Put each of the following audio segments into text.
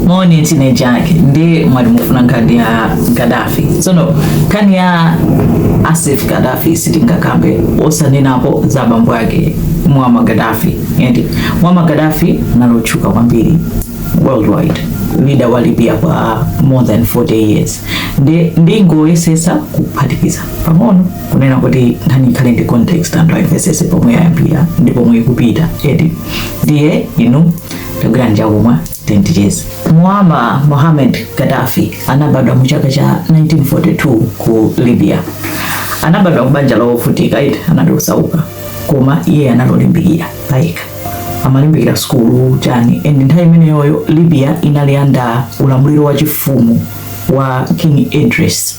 moni tine jake nde mwati mufuna nkhani ya Gaddafi tsono nkhani ya a Saif Gaddafi sitingakambe osanenapo za bambo ake Muammar Gaddafi eti Muammar Gaddafi anali otchuka kwambiri worldwide leader wa libya kwa more than 40 years nde ndingoyesetsa kuphatikiza pang'ono kunena kuti nkhani ikhale ndi context anthu ayimvesese pomwe yayambira ndi pomwe ikupita eti ndiye inu tagwirani chakumwa then ticheze Muammar Mohammed Gaddafi anabadwa mu chaka cha 1942 ku libya anabadwa kubanja lovutika eti anali osauka koma iye anali olimbikira payekha amalimbikira sukulu chani and nthawi imeneyoyo libya inali under ulamuliro wa chifumu wa king idris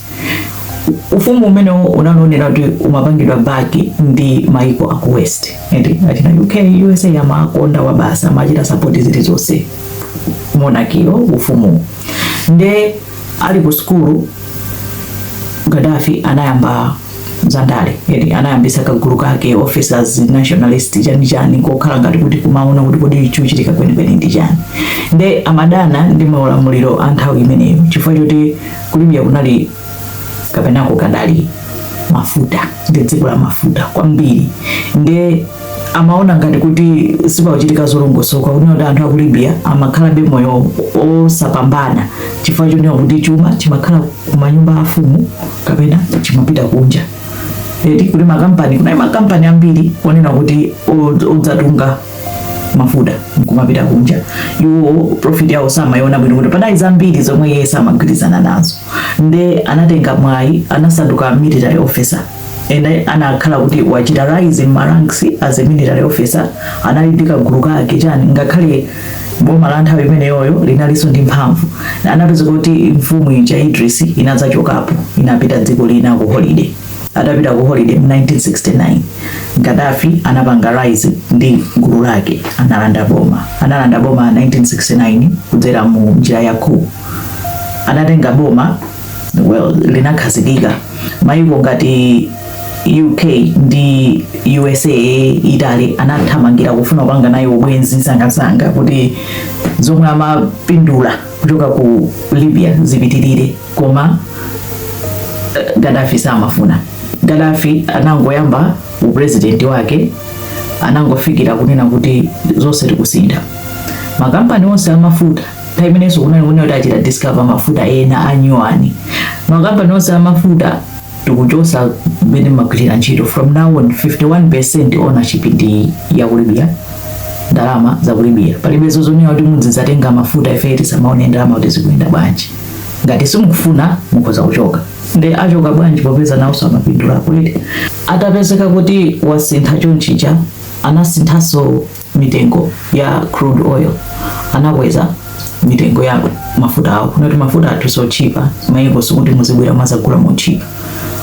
ufumu umenewo unali onena kuti umapangidwa back ndi maiko aku west eti achina UK USA amakonda Arabs amachita support zili zonse monarchy yo ufumu nde ali ku sukulu Gaddafi anayamba zandale eti anayambitsa kagulu kake officers nationalist chani chani kokhala ngati kuti kumaona kuti kodi chikuchitika kwenikweni ndi chani nde amadana ndi maulamuliro a nthawi imeneyo chifukwa choti ku Libya kunali kapena kukadali mafuta ndi dziko la mafuta kwambiri nde amaona ngati kuti sipakuchitika zolongosoka kuti anthu aku Libya amakhalabe moyo osapambana chifukwa chonena kuti chuma chimakhala kumanyumba afumu kapena chimapita kunja eti kuti makampani kunali makampani ambiri kunena kuti odzatunga mafuta nkumapita kunja iwo profit yawo samayona bwino kuti panali zambiri zomwe iye samagwirizana nazo nde anatenga mwayi anasanduka military officer nde anakhala kuti wachita rise in ma ranks as a military officer anali ndi kagulu kake chani ngakhale boma la nthawi imeneyoyo linalinso ndi mphamvu anapezeka kuti mfumu ija idris inadzachokapo inapita dziko lina ku holiday atapita ku holiday mu 1969 Gaddafi anapanga rise ndi gulu lake analanda boma analanda boma 1969 kudzera mu njira ya coup anatenga boma well, linakhazikika maiko ngati UK ndi USA Italy anathamangira kufuna kupanga nayo ubwenzi msangamsanga kuti zomwe amapindula kuchoka ku Libya zipitirire koma eh, Gaddafi samafuna. Gaddafi anangoyamba upresident wake anangofikira kunena kuti zonse tikusintha makampani onse amafuta nthawi imenenso kunali kunena kuti achita discover mafuta ena anyuwani makampani onse amafuta tikuchosa mmene mumagwirira ntchito from now on 51 percent ownership ndi ya ku Libya ndalama za ku Libya palibe zonena kuti mudzizatenga mafuta ife tisamaone ndalama kuti zikuyenda bwanji ngati simukufuna mukhoza kuchoka nde achoka bwanji popeza nawonso amapindula ku Libya atapezeka kuti wasintha chonchicha anasinthanso mitengo ya crude oil anakweza mitengo ya mafuta awo kunoti mafuta athu sotchipa mayiko sikuti muzibwera muzagula motchipa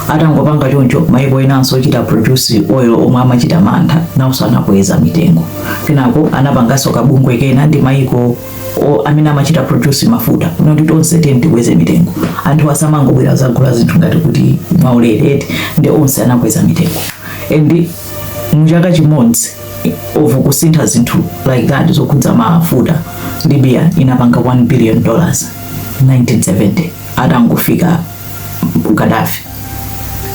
atangopanga choncho mayiko enanso ochita produce oil omwe amachita mantha nawonso anakweza mitengo kenako anapanganso kabungwe kena ndi mayiko amene amachita produce mafuta kunoti tonse tiye tikweze mitengo anthu asamangobwera zagula zinthu ngati kuti mwaulere eti nde onse anakweza mitengo and muchaka chimodzi of kusintha zinthu like that zokhudza mafuta Libya inapanga 1 billion dollars 1970 atangofika Gaddafi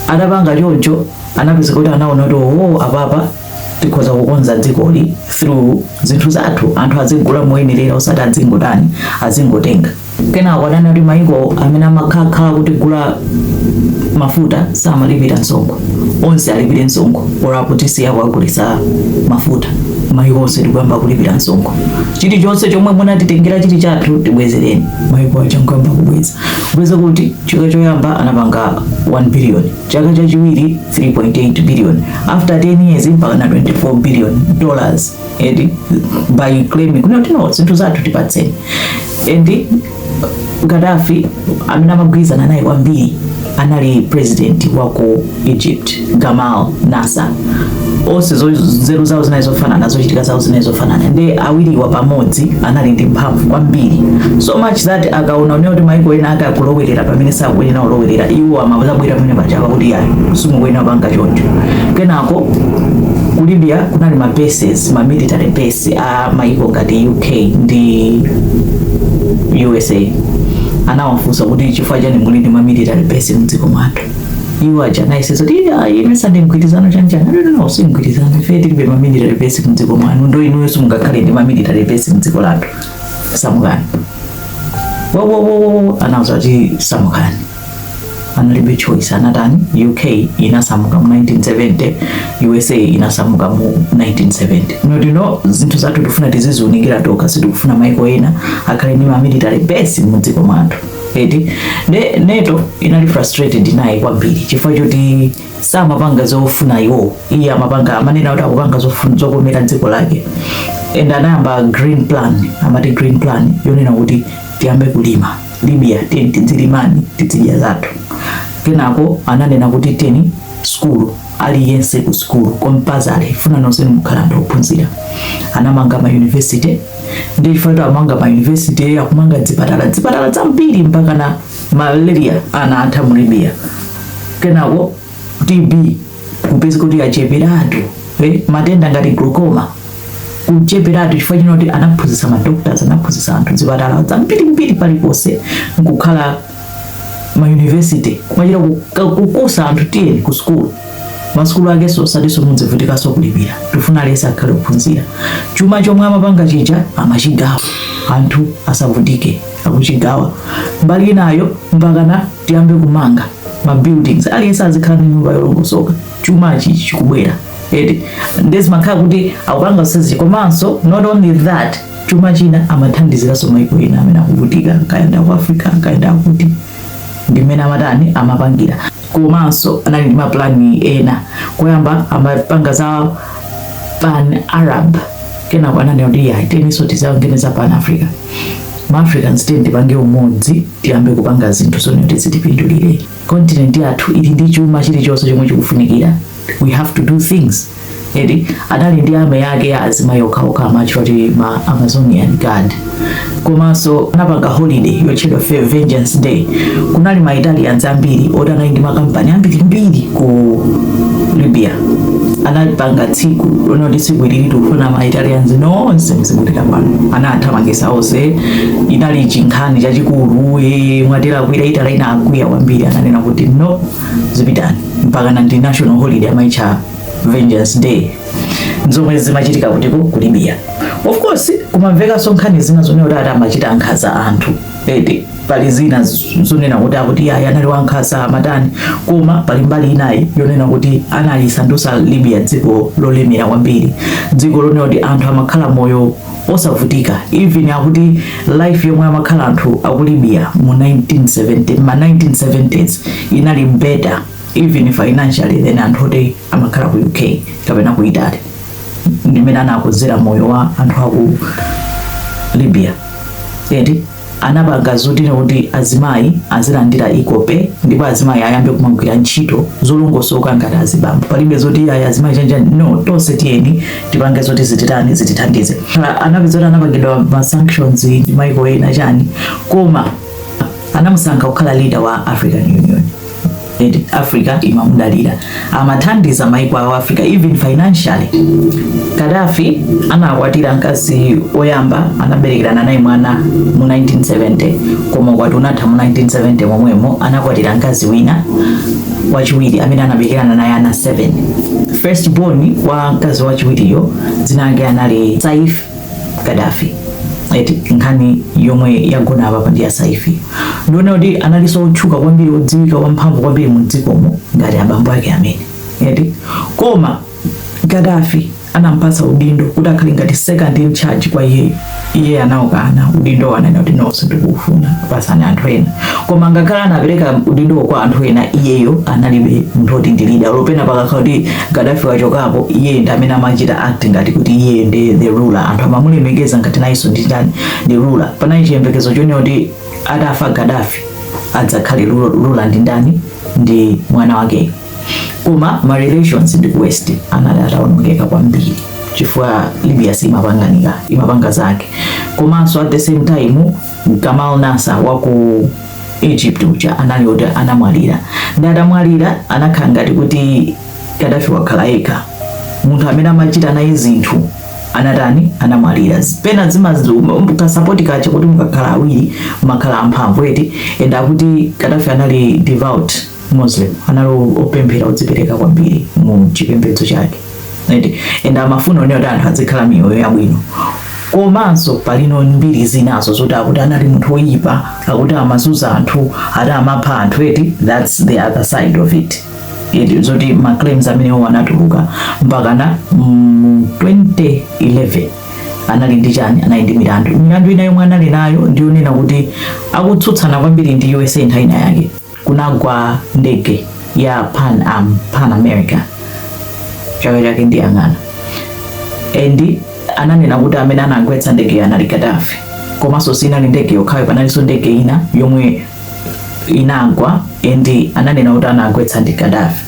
atapanga choncho anapeza kuti anaona kuti oh apapa tikhoza kukonza dzikoli through zinthu zathu anthu azigula moyenerera osati azingotani azingotenga Kenako ananena kuti maiko amene amakhala kutigula mafuta samalipira msonkho, onse alipire msonkho or apo tisiya kuwagulisa mafuta maiko onse nkuyamba kulipira msonkho. Chilichonse chomwe munatitengera chili chathu tibwezereni. Maiko aja nkuyamba kubweza kubweza kuti chaka choyamba anapanga 1 billion, chaka chachiwiri 3.8 billion, after 10 years mpaka na 24 billion dollars. and by claiming kuti no zinthu zathu tipatseni and Gaddafi amene amagwirizana naye kwambiri anali president wa ku Egypt Gamal Nasser onse nzeru zawo zinali zofanana zochitika zawo zinali zofanana nde awiriwa pamodzi anali ndi mphamvu kwambiri so much that akaona kunena kuti maiko ena ake akulowerera pamene sakuyenera kulowerera iwo amazabwera pamene paja kuti ayi simukuyenera panga choncho kenako ku libya kunali ma bases ma military base a maiko ngati uk ndi usa anawafunsa kuti chifukwa chani muli ndi ma military base mdziko mwathu iwo aja anayesesa kuti "Iya, ine sade mgwirizano chanjani ananena no si mgwirizano ife tilibe ma military base mdziko mwanu nde inuyonso simungakhale ndi ma military base mdziko lathu samukani wowowowo anauza kuti samukani analibe choice anatani uk inasamuka mu 1970 us inasamuka mu 1970 kuti no zinthu zathu tifuna tiziziunikira tokha sitikufuna maiko ena akhale ndi mamilitary base mu dziko mwathu eti nde NATO inali frustrated naye kwambiri chifukwa choti samapanga zofuna iwo iye amapanga amanena kuti akupanga zofuna zokomera dziko lake and anayamba green plan amati green plan yonena kuti tiyambe kulima Libya tiyeni tidzilimani tidzidya zathu kenako ananena kuti tiyeni sukulu aliyense ku sukulu compulsory tifuna nonse mukhala ndi ophunzira anamanga ma university nde chifukwa chake amanga ma university akumanga dzipatala dzipatala zambiri mpaka na malaria anatha mu Libya kenako TB kupeza kuti acheperatu eh, matenda ngati glaucoma kucheperatu chifukwa chonena kuti anaphunzitsa madoctors anaphunzitsa anthu zipatala zambirimbiri paliponse nkukhala mayunivesity kumachita kukusa anthu tiyeni ku sukulu masukulu ake osatiso mudzivutikaso kulipira tifuna aliyense akhale ophunzira chuma chomwe amapanga chija amachigawa anthu asavutike akuchigawa mbali inayo mpakana tiyambe kumanga ma buildings aliyense azikhala ndi nyumba yolongosoka chuma ichi chikubwera eti nde zimakhala kuti akupanga usaziji komanso not only that chuma china amathandiziraso maiko ena amene akuvutika kaya nda ku africa kaya nda kuti ndi mmene amatani amapangira komanso anali ndi mapulani ena koyamba amapanga za pan arab kenako ananena kuti ayi tiyeninso tipange za pan africa ma africans tiyeni tipange umodzi tiyambe kupanga zinthu zonena kuti zitipindulire kontinenti yathu ili ndi chuma chilichonse chomwe chikufunikira we have to do things eti anali ndi army yake ya azimayi okhaokha amawatcha kuti ma amazonian guard komanso anapanga holiday yotchedwa Vengeance Day. Kunali ma Italians ambiri oti anali ndi makampani ambirimbiri ku Libya anapanga tsiku lonena kuti tsiku ili tikufuna ma Italians nonse muzipita pano anathamangitsa onse inali chinkhani chachikulu e mwatera akwiya Italy inakwiya kwambiri ananena kuti no zipitani mpaka na ndi national holiday amaitcha Vengeance Day nzomwe zimachitika kutiko ku Libya of course kumamvekanso nkhani zina zonena kuti ati amachita nkhanza anthu nde pali zina zonena kuti akuti ayi anali wankhanza amatani koma pali mbali inayi yonena kuti analisandusa Libya dziko lolemera kwambiri dziko lonena kuti anthu amakhala moyo osavutika even akuti life yomwe amakhala anthu aku Libya mu 1970 ma 1970s inali better even financially than anthu oti amakhala ku uk kapena ku italy ndimene anakozera moyo wa anthu aku libya eti anapanga zoti kuti azimayi azilandira ikope ndipo azimayi ayambe kumagwira ntchito zolongosoka ngati azibambo palibe zoti ayi azimayi chani no tonse tiyeni tipange zoti zititani zitithandize Ah, anapeza kuti anapangidwa ma sanctions ndi maiko ena chani koma anamusankha kukhala leader wa african union africa imamudalira amathandiza maiko a africa even financially gaddafi anakwatira mkazi woyamba anaberekerana naye mwana mu 1970 koma ukwati unatha mu 1970 momwemo anakwatira mkazi wina wachiwiri amene anaberekerana naye ana 7 first born wa mkazi wachiwiriyo dzina lake anali saif Gaddafi eti nkhani yomwe yagona apa ndi ya Saif ndiye ona kuti analinso otchuka kwambiri odziwika wamphamvu kwambiri mu dzikomo ngati abambo ake amene eti koma Gaddafi anampatsa udindo kuti akhale ngati second in charge kwa iye iye anaukana udindo anena kuti no sindikuufuna patsani anthu ena koma ngakhale anapereka udindo kwa anthu ena iyeyo anali munthu oti ndi leader olo pena pakakhala kuti Gaddafi wachokapo iye ndi amene amachita act ngati kuti iye ndi the ruler anthu amamulemekeza ngati nayenso ndi ndani ndi ruler panali chiyembekezo chonena kuti atafa Gaddafi adzakhale ruler ruler ndi ndani ndi mwana wake koma ma relations ndi ku west anali atawonongeka kwambiri chifukwa Libya simapangika imapanga zake komanso at the same time Gamal Nasser wa ku Egypt uja anali oti anamwalira nde atamwalira anakhala ngati kuti Gaddafi wakhala yekha munthu amene amachita naye zinthu anatani anamwalira pena zimasowa kasapoti kaja kuti mukakhala awiri makhala amphamvu eti and akuti Gaddafi anali devout muslim anali opemphera odzipereka kwambiri mu chipembedzo chake right? and amafuna kuona kuti anthu azikhala miyoyo yabwino komanso palino mbiri zinazo zoti akuti anali munthu woyipa akuti amazunza anthu ati amapha anthu eti that's the other side of it It- zoti maclaims amenewo anatuluka mpakana mm, 2011 anali ndi chani anali ndi milandu milandu ina yomwe anali nayo ndiyonena kuti akutsutsana kwambiri ndi usa nthawi ina yake kunagwa ndege ya pan am pan america chaka chake ndiyang'ana and ananena kuti amene anagwetsa ndegeyo anali Gaddafi komanso siinali ndege yokhayo panalinso ndege ina yomwe inagwa and ananena kuti anagwetsa ndi Gaddafi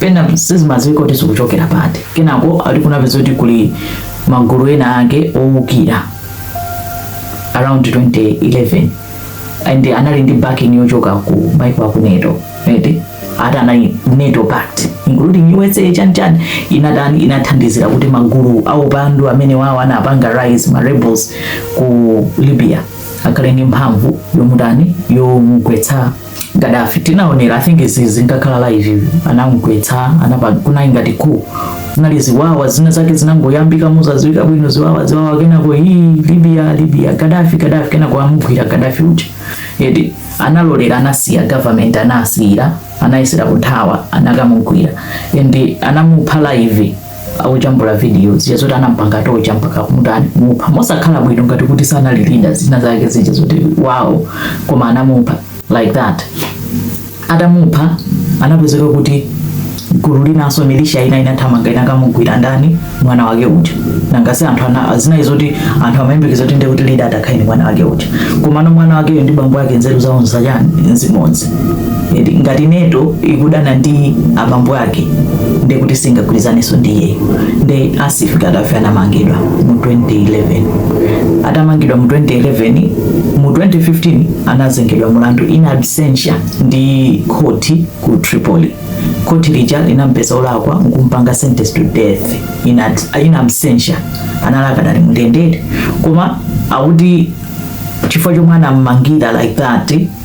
pena sizimadziwika kuti zikuchokera pati kenako akuti kunapezeka kuti kuli magulu ena ake owukira around 2011 and anali ndi backing yochoka ku maiko aku NATO eti ati anali NATO pact including USA chanchan inatani inathandizira kuti magulu aupandu amenewawo anapanga rise ma rebels ku Libya akhale ndi mphamvu yomutani yomugwetsa Gaddafi tinaonera I think izi zinkakhala live anamugwetsa kunali ngati ku zinali ziwawa zina zake zinangoyambika mosadziwika bwino ziwawa ziwawa kenako hii Libya Libya Gaddafi Gaddafi kenako amugwira Gaddafi uja eti analolera anasiya government anasiya anayesera kuthawa anakamugwira and anamupha live akujambula video zija zoti anampanga tocha mpaka mutani mupha mosakhala bwino ngati kuti sanali leader zina zake zija zoti wow koma anamupha like that atamupha anapezeka kuti gulu linanso militia ina inathamanga inakamugwira ndani mwana wake uja nanga si anthu anazindikira zoti anthu amayembekeza kuti ndekuti leader atakhale ndi mwana wake uja komano mwana wakeyo ndi bambo ake nzeru zawo nzachani nzimodzi ngati NATO ikudana ndi abambo ake ndiye kuti singagwirizanenso ndi iyeyo nde Saif Gaddafi anamangidwa mu 2011 atamangidwa mu 2011 mu 2015 anazengedwa mulandu in absentia ndi khoti ku tripoli khoti lija linampeza olakwa nkumpanga sentence to death in, ad- in absentia anali adakali mu ndende koma akuti chifukwa chomwe anammangira like that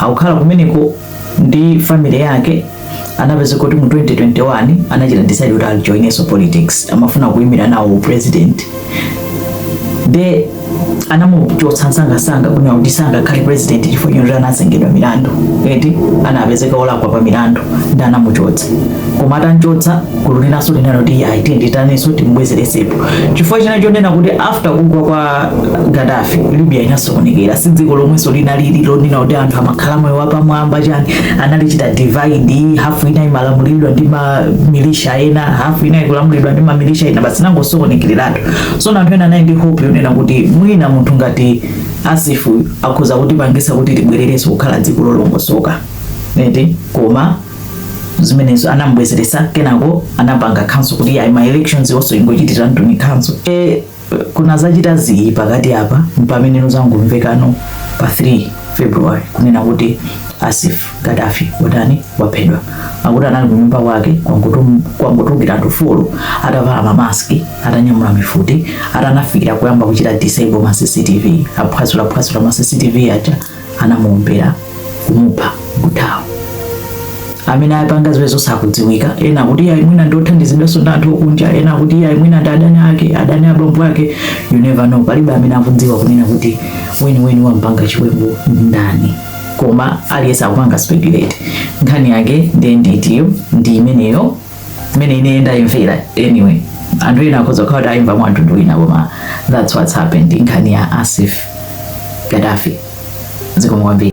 akukhala kumeneko ndi family yake anapezeka kuti mu 2021 anachita decide kuti ajoinenso politics amafuna kuimira nawo president nde anamuchotsa msangasanga kunena kuti sangakhale president chifukwa choti anazengedwa milandu eti anapezeka olakwa pa milandu nde anamuchotsa koma atanchotsa gulu linanso linati ayi timutaninso timubwezeretsepo chifukwa china chonena kuti after kugwa kwa Gaddafi Libya inasokonekera si dziko lomwenso linali lonena kuti anthu amakhala moyo wapamwamba chani analichita divide hafu ina imalamulidwa ndi mamilisha ena hafu ina ikulamulidwa ndi mamilisha ena basi linangosokonekereratu so anthu ena anali ndi hope yonena kuti mwina munthu ngati Saif akhoza kutipangitsa kuti tibwererenso kukhala dziko lolongosoka eti koma zimenezo anamubwezeretsa kenako anapanga cancel kuti ayi ma elections onse kungochitiratu cancel e, kunadzachita ziyi pakati apa mpameneno zangomvekano pa 3 february kunena kuti Saif Gaddafi watani waphedwa akuti anali kunyumba kwake kwangotulukira anthu folo atavala mamaski atanyamula mifuti anafikira kuyamba kuchita disable ma cctv aphwasula phwasula ma cctv aja anamuombera kumupha kuthawa amene apanga ziwembuzo sakudziwika ena akuti iyayi mwina ndi othandizidwanso ndi anthu okunja ena akuti iyayi mwina ndi adani ake adani abambo ake you never know palibe amene akudziwa kunena kuti weniweni wampanga chiwembu ndani koma aliyense akupanga speculate nkhani yake ndiye nkhaniyo ndi imeneyo mene ine ndayimvera anyway anthu ena akhoza kukhala kuti ayimva mwa mtundu wina koma that's what's happened nkhani ya saif gadafi zikomo kwambiri